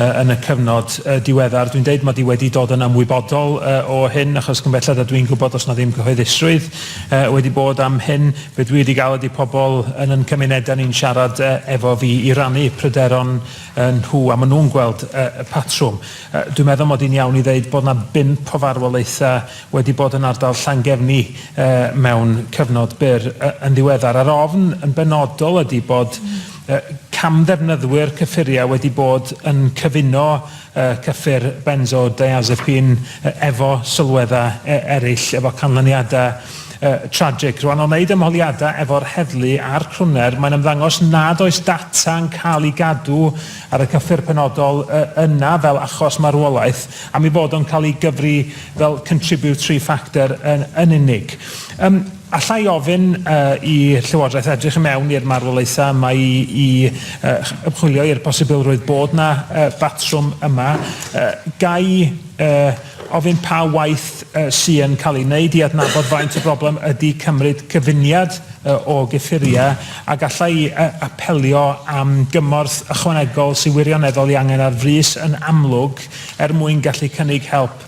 yn y cyfnod diweddar. Dwi'n deud mod i wedi dod yn ymwybodol o hyn achos cymbellad a dwi'n gwybod os na ddim cyhoeddusrwydd wedi bod am hyn. Be dwi wedi gael ydi pobl yn yn cymunedau ni'n siarad efo fi i rannu pryderon nhw a maen nhw'n gweld y patrwm. Dwi'n meddwl mod i'n iawn i ddeud bod na bump o farwolaethau wedi bod yn ardal Llangefni mewn cyfnod byr yn ddiweddar. A'r ofn yn benodol ydi bod Cam-ddefnyddwyr cyffuriau wedi bod yn cyfuno cyffur benzodiazepine efo sylweddau eraill, efo canlyniadau tragic. Rwan, o wneud ymholiadau efo'r heddlu a'r crwner, mae'n ymddangos nad oes data yn cael ei gadw ar y cyffur penodol yna fel achos marwolaeth, am ei fod o'n cael ei gyfri fel contributory factor yn unig. Alla i ofyn i Llywodraeth edrych i mewn i'r marwolaethau yma i ymchwilio i'r posibilrwydd bod 'na batrwm yma? Ga i ofyn pa waith sy yn cael ei wneud i adnabod faint y broblem ydy cymryd cyfuniad o gyffuriau, a galla i apelio am gymorth ychwanegol sy'n wirioneddol ei angen ar frys yn amlwg er mwyn gallu cynnig help?